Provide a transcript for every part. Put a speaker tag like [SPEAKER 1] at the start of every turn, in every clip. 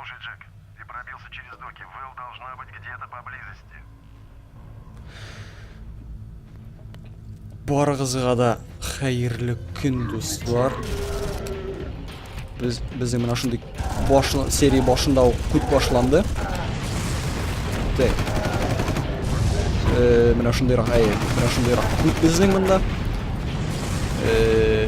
[SPEAKER 1] Слушай, Джек, ты пробился через доки. Вэл должна быть где-то поблизости.
[SPEAKER 2] Барыгызга да хәерле көн, дуслар. Без безнең менә шундый баш серия башында ук күт башланды. Так. Э, менә шундый рак, әйе, менә шундый рак күт безнең монда. Э,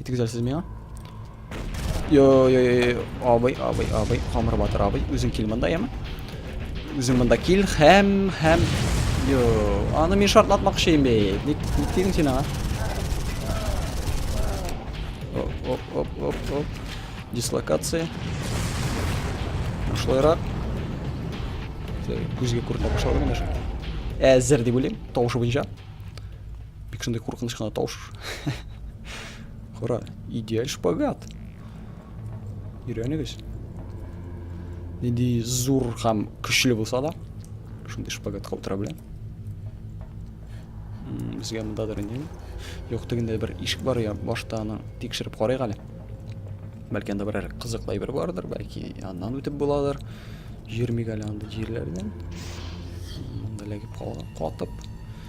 [SPEAKER 2] И ты кидерсиз меня? Йо, йо, йо, йо, абый, абый, абый, хамыр батыр абый, үзең кил монда, яме? Үзең монда кил, һәм, һәм, йо, аны мин шартлатмакчы инде, ник, ник тидең син аңа? Оп, оп, оп, оп, оп, дислокация, шулайрак, күзгә күренә башлады менә шул, әзер дип уйлыйм, тавышы буенча. Бик шундый куркыныч кына тавыш. Кара, идеаль шпагат. Өйрәнегез. Нинди зур һәм көчле булса да, шундый шпагатка утыра белә. Безгә монда да инде. Юк тегендә бер ишек бар я, башта аны тикшереп карыйк әле. Бәлки анда берәр кызыклы әйбер бардыр, бәлки аннан үтеп буладыр. Йөрмик әле анда җирләрдән. Монда ләгеп калган, катып.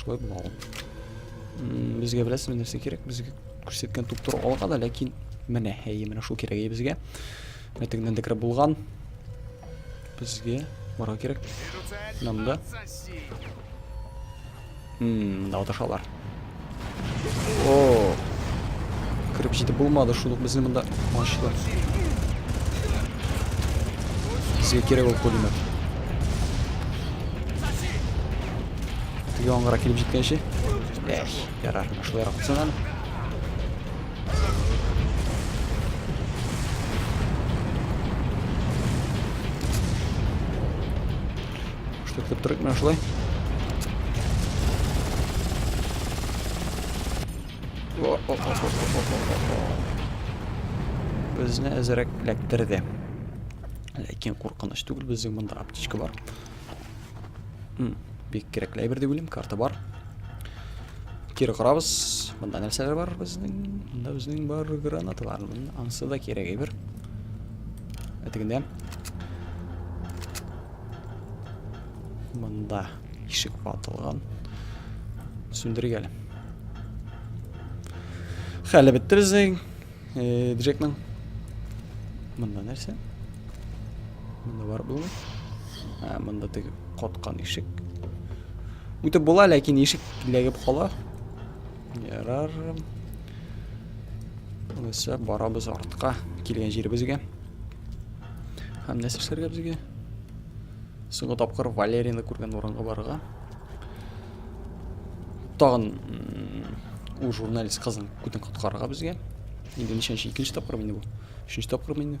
[SPEAKER 2] Шулай була ул. Безгә беләсезме нәрсә кирәк? Безгә күрсәткән туптор алга да, ләкин менә, әйе, менә шул кирәк әйе безгә. Мәтегеннән дә кереп булган. Безгә барга кирәк. Монда. Мм, да аташалар. О! Кырып җитеп булмады, шул ук безне монда ачтылар. Безгә кирәк ул пулемет. Теге аңгыра килеп җиткәнче. Эх, ярар, шулай рахатсың әле. Что ты прыгнешь, да? Безне әзерәк эләктерде. Ләкин куркыныч түгел, безнең монда аптечка бар. Бик кирәкле әйбер дип уйлыйм, карта бар. Кире карабыз. Монда нәрсәләр бар безнең? Монда безнең бар гранаталар. Ансы да кирәк әйбер. Әтегендә. Монда ишек ватылган. Сүндерик әле. Хәле бетте безнең. Э, Джекның. Монда нәрсә? Монда бар булмы? Ә, монда теге коткан ишек. Үтеп була, ләкин ишек ләгеп кала. Ярар. Булса, барабыз артка, килгән җиребезгә. Һәм нәрсә эшләргә безгә? Соңгы тапкыр Валерияны күргән урынга барырга. Тагын ул журналист кызын күтен коткарырга безгә. Инде ничәнче икенче тапкыр инде бу. Өченче тапкыр инде.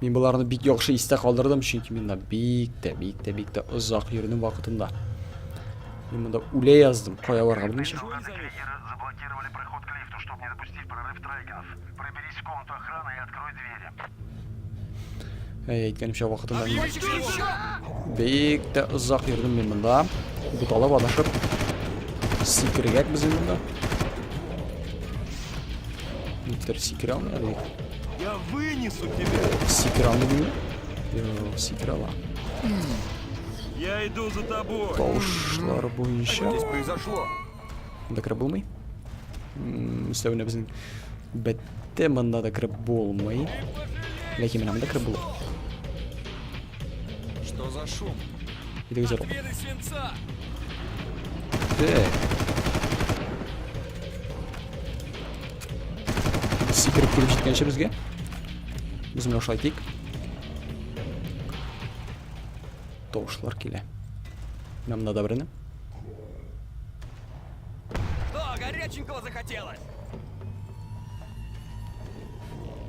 [SPEAKER 2] Мин боларны бик яхшы истә калдырдым, чөнки мин да бик тә, бик тә, бик тә озак йөрдем вакытында. Мин монда үлә яздым, кая барырга белмичә.
[SPEAKER 1] Әй,
[SPEAKER 2] әйткәнемчә вакытында мин бик тә озак йөрдем мин монда. Буталып адашып сикергәк без монда. Никтер сикерә алмый әле. Я
[SPEAKER 3] вынесу тебя. Сикерә алмый.
[SPEAKER 2] Йо, сикерә ала.
[SPEAKER 4] Я иду за тобой. Тавышлар
[SPEAKER 2] буенча. Что здесь произошло?
[SPEAKER 3] Мында кереп
[SPEAKER 2] булмый. Өстәвенә безнең бәтте мында да кереп булмый. Ләкин менә мында кереп була.
[SPEAKER 3] Что за шум? Иде үзәр.
[SPEAKER 2] Сикереп килеп җиткәнче безгә. Без менә шулай тик. Тавышлар килә. Менә мында да берне.
[SPEAKER 3] О, горяченького захотелось!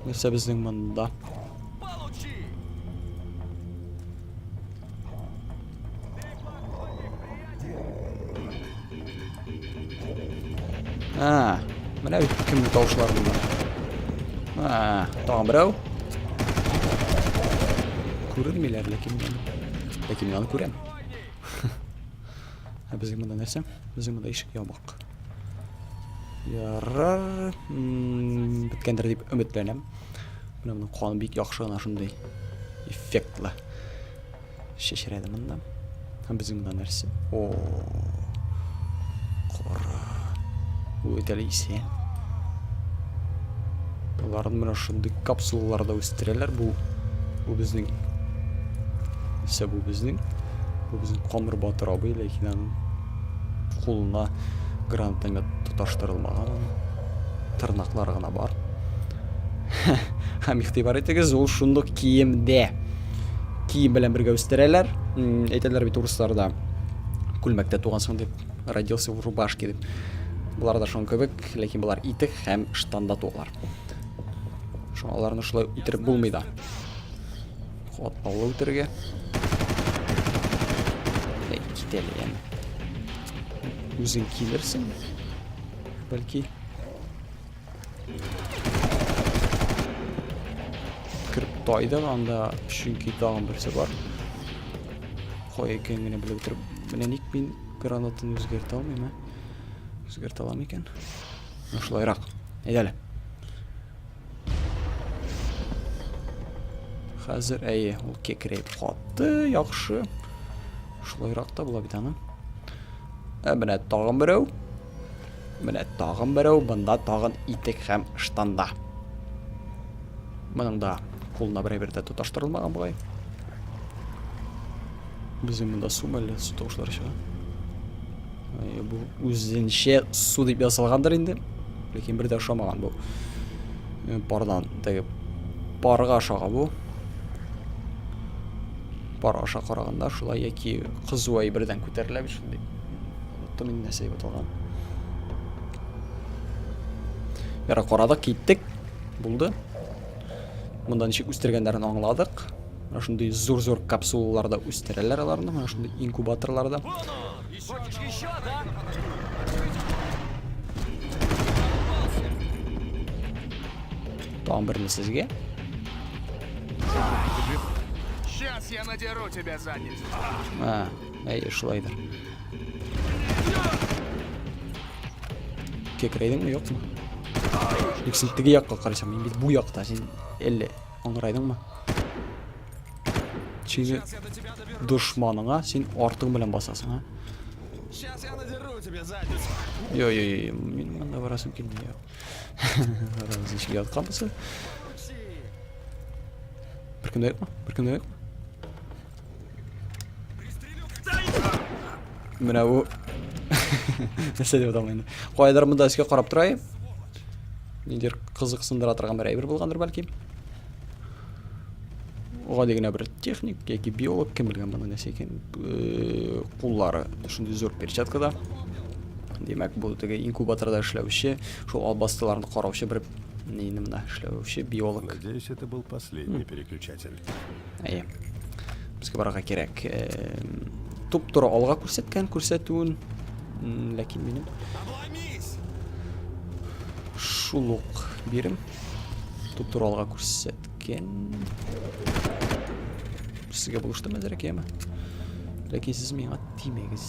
[SPEAKER 2] Нәрсә безнең монда? А, менә бит кемне тавышлар булды. А, тагын берәү. Күренмиләр ләкин мин. Ләкин мин аны күрәм. Ә безгә монда нәрсә? Безгә монда ишек ябык. Ярар, беткәндер дип өметләнәм. Менә моның каны бик яхшы гына шундый эффектлы. Шешерәде монда. Һәм безнең монда нәрсә? О. Кара. Үтәле исә. Аларны менә шундый капсулаларда үстерәләр. Бу бу безнең исә бу безнең бу безнең Камыр Батыр абый, ләкин аның кулына гранатомет тоташтырылмаган аның. Тырнаклар гына бар. Һәм игътибар итегез, ул шундук киемдә. Кием белән бергә үстерәләр. Әйтәләр бит урысларда күлмәктә тугансың дип, родился в рубашке дип. Болар да шуның кебек. Ләкин болар итек һәм штанда туалар. Шуңа аларны шулай үтереп булмый да. Катлаулы үтерергә. Китәле яны. Үзең килерсең. Бәлки. Кереп тайды анда, чөнки тагын берсе бар. Кой икән генә белеп утырып. Менә ник мин гранатын үзгәртә алмыйм, ә? Үзгәртә алам икән. Шулайрак. Әйдә әле. Хәзер әйе, ул кекрәйеп катты, яхшы. Шулайрак та була бит аны. Ә менә тагын берәү. Менә тагын берәү, бында тагын итек һәм штанда. Моның да кулына берәй-бер дә тоташтырылмаган бугай. Без монда су мәллә су тавышлары чыга. Ә, бу үзенчә су дип ясалгандыр инде. Ләкин бер дә ошамаган бу. Э, пардан теге парга ошаган бу. Пар аша караганда шулай яки кызу әйбердән күтәрелә бит шундый. Оныттым инде нәрсә дип аталган. Яра карадык, киттек. Булды. Монда ничек үстергәннәрен аңладык. Менә шундый зур-зур капсулаларда үстерәләр аларны, менә шундый инкубаторларда. Там берне сезгә.
[SPEAKER 3] Сейчас я надеру тебя задницу. А, әйе,
[SPEAKER 2] шулайдыр. Кекрейдеңме, юкмы? Юк, син теге якка карасаң, мин бит бу якта, син әллә Аңрайдыңмы? Чиге дошманыңа син артың белән басасың, а? Сейчас
[SPEAKER 3] я надеру тебе задницу. Йо-йо-йо,
[SPEAKER 2] мин монда барасым килми. Раз ничек ятканбыз? Беркемдә юкмы? Беркемдә юкмы? Менә бу. Нәрсә дип аталмый инде. Кайдыр монда өскә карап торай. Нидер кызыксындыра торган бер әйбер булгандыр бәлки. Гади генә бер техник яки биолог кем белгән моны нәрсә икән. Куллары шундый зур перчаткада. Димәк, бу теге инкубаторда эшләүче, шул албастыларны караучы бер нинди мына эшләүче биолог. Надеюсь, это был
[SPEAKER 5] последний переключатель. Әйе.
[SPEAKER 2] Безгә барырга кирәк. Туп-туры алга күрсәткән күрсәтүен, ләкин минем шул ук бирем. Туп-туры алга күрсәткән. Сезгә булыштым әзерәк, яме. Ләкин сез миңа тимәгез.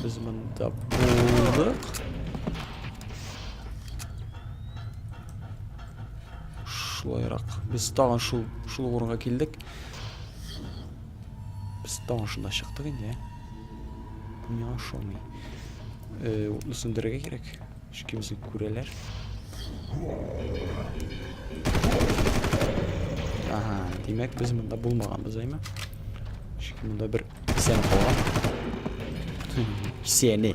[SPEAKER 2] Без монда булдык. Шулайрак. Без тагын шул шул урынга килдек. Без тагын шунда чыктык инде. Бу миңа ошамый. Э, утны сүндерергә кирәк. Чөнки безне күрәләр. Ага, димәк без монда булмаганбыз, әйме? Чөнки монда бер исән калган. Исәне.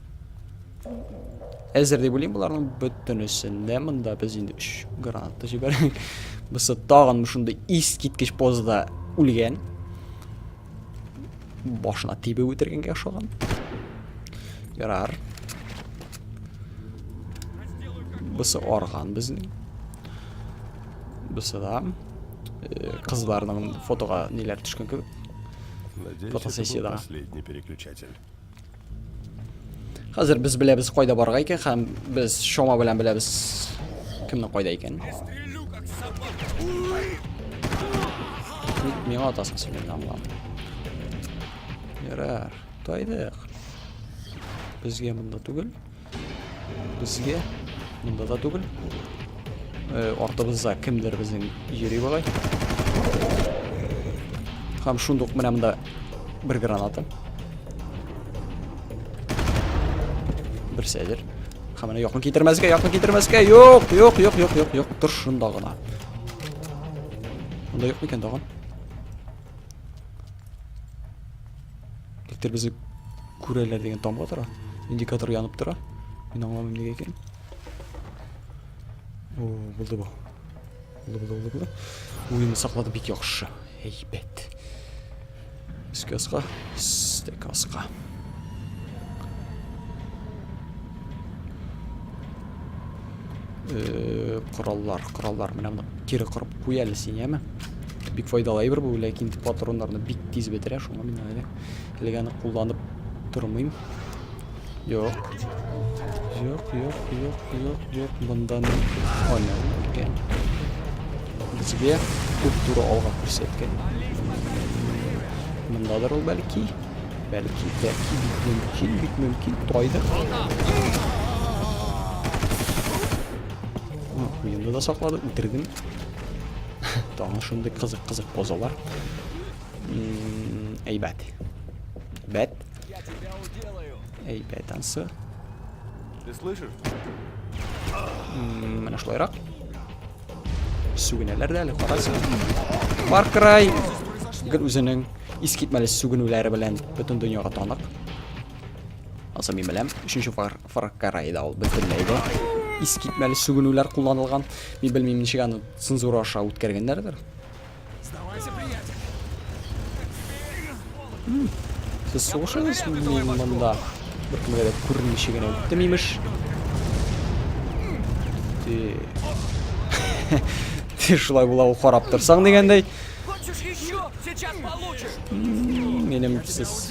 [SPEAKER 2] Әзер дип уйлыйм боларның бөтенесен дә. Монда без инде 3 граната җибәрдек. Бусы тагын шундый искиткеч позада үлгән. Башына тибеп үтергәнгә ошаган. Ярар. Бусы арган безнең. Бусы да э, кызларның фотога ниләр төшкән кебек.
[SPEAKER 5] Фотосессиядә.
[SPEAKER 2] Последний
[SPEAKER 5] переключатель.
[SPEAKER 2] Хәзер без беләбез кайда барырга икән һәм без Шома белән беләбез кемнең кайда икән.
[SPEAKER 3] Ник
[SPEAKER 2] миңа атасың син инде аңлам. Ярар, тайдык. Безгә монда түгел. Безгә монда да түгел. Э, артыбызда кемдер безнең йөри болай. Һәм шундук менә монда бер граната. Бер сәдер. Һәм менә якын китермәскә, якын китермәскә. Юк, юк, юк, юк, юк, юк. Тор шунда гына. Монда юк микән тагын? Электр безне күрәләр дигән тамга тора. Индикатор янып тора. Мин аңламыйм нигә икән. О, булды бу. Булды, булды, булды, булды. Уен саклады бик яхшы. Әйбәт. Өскә аска, стек аска. Э, кораллар, кораллар. Менә моны кире кырып куй әле син, яме? Бик файдалы әйбер бу, ләкин патроннарны бик тиз бетерә, шуңа мин әле әлегә аны кулланып тормыйм. Юк. Юк, юк, юк, юк, юк. Мондан аны икән. Безгә күп туры алга күрсәткән. Мондадыр ул бәлки. Бәлки, бәлки бит мөмкин, бит мөмкин, тайды. Куенды да саклады, үтердем. Таңы шундый кызык-кызык позалар. Әйбәт. Бәт.
[SPEAKER 3] Әйбәт ансы. Ты слышишь?
[SPEAKER 2] Менә шулайрак. Сүгенәләр дә әле, карасы. Far Cry гел үзенең искитмәле сүгенүләре белән бөтен дөньяга танык. Аса мин беләм, өченче Far, Far Cry да ул бөтенләй дә искитмәле сүгенүләр кулланылган. Мин белмим, ничек аны цензура аша үткәргәннәрдер. Сез сугышыгыз мин монда бер кемгә дә күренмичә генә үттем имеш. Ти шулай була ул карап торсаң дигәндәй.
[SPEAKER 3] Минем
[SPEAKER 2] сез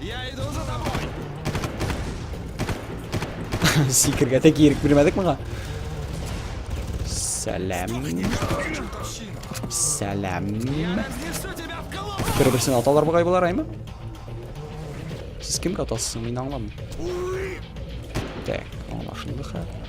[SPEAKER 3] Я иду за тобой.
[SPEAKER 2] Сикергә тек ирек бирмәдек моңа. Сәлам. Сәлам.
[SPEAKER 3] Бер-берсен аталар бугай булар
[SPEAKER 2] аймы? Сез кемгә атасыз? Мин аңламыйм. Так, аңлашылды хәзер.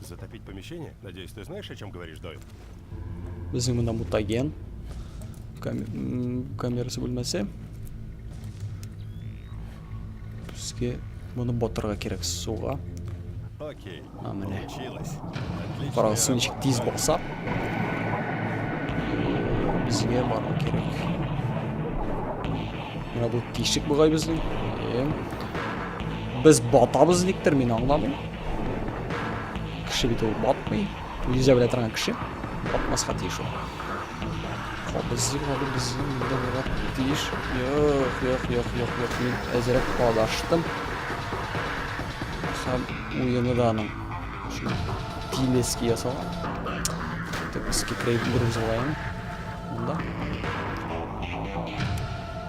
[SPEAKER 1] Затопить помещение?
[SPEAKER 5] Надеюсь, ты знаешь, о чем говоришь, Дойл? Безнең
[SPEAKER 2] монда мутаген. Камерасы бүлмәсе. Безгә моны батырга кирәк суга. Окей.
[SPEAKER 5] А, менә. Карагыз, су ничек тиз
[SPEAKER 2] баса. Безгә бару кирәк. Менә бу тишек бугай безнең. Без батабыз никтер, мин аңламыйм. Кеше бит ул батмый. Нельзя белә торган кеше. Батмаска тиеш ул. Кабыз җырлады безнең инде була тиеш. Юк, юк, юк, юк, юк. Мин әзрәк адаштым. Һәм уены да аның. Тилески ясалган. Тек скип рейдер узылайын. Монда.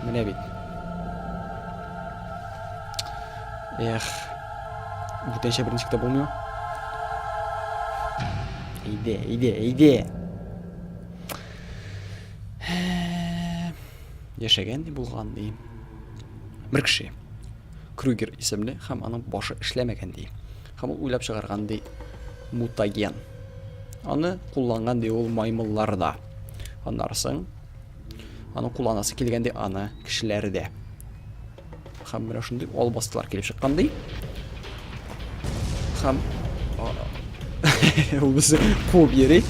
[SPEAKER 2] Менә бит. Эх. Бүтәнчә беренче китап булмый. Әйдә, әйдә, әйдә. Яшәгән ди булган ди. Бер кеше. Крюгер исемле һәм аның башы эшләмәгән ди. Һәм ул уйлап чыгарган ди мутаген. Аны кулланган ди ул маймылларда. Аннарсың аны кулланасы килгән ди аны кешеләрдә. Хәм менә шундый албастылар килеп чыккан ди. Хәм ул безне куып йөри.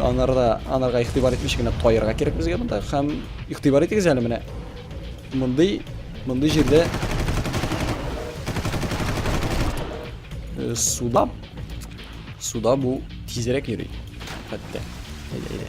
[SPEAKER 2] Анарда, анарга игътибар итмичә генә таярга кирәк безгә монда. Хәм игътибар итегез әле менә. Мондый, мондый җирдә э, суда суда бу тизрәк йөри. Хәтта. Әйдә, әйдә.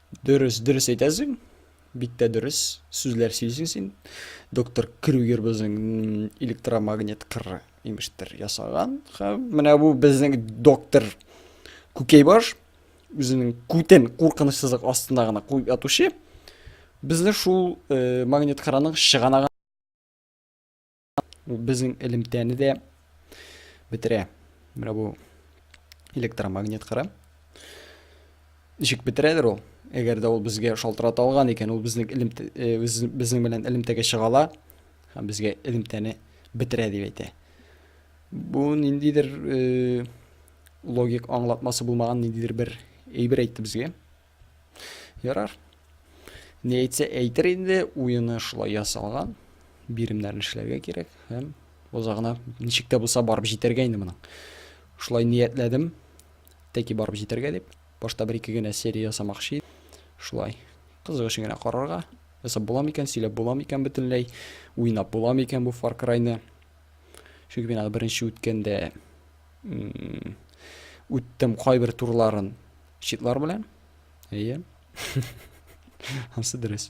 [SPEAKER 2] Дөрес, дөрес әйтәсең. Бик тә дөрес сүзләр сөйлисең син. Доктор Крюгер безнең электромагнит кыры имештер ясаган. Һәм менә бу безнең доктор Күкәйбаш үзенең күтен куркынычсызлык астында гына куеп ятучы. Безне шул э, магнит кыраның чыганагы Бу безнең элемтәне дә бетерә. Менә бу электромагнит кыры. Ничек бетерәдер ул? Әгәр дә ул безгә шалтырата алган икән, ул безнең элемтә э, безнең белән элемтәгә чыгала һәм безгә элемтәне бетерә дип әйтә. Бу ниндидер э, логик аңлатмасы булмаган ниндидер бер әйбер әйтте безгә. Ярар. Ни әйтсә әйтер инде, уены шулай ясалган. Биремнәрне эшләргә кирәк һәм озагына ничек тә булса барып җитәргә инде моның. Шулай ниятләдем. Тәки барып җитәргә дип. Башта бер ике генә серия ясамакчы идем. Шулай кызык өчен генә карарга. Ясап була микән, сөйләп була микән бөтенләй, уйнап була микән бу Far Cry-ны. Чөнки мин аны беренче үткәндә үттем кайбер турларын Читлар белән? Әйе. Ансы дөрес.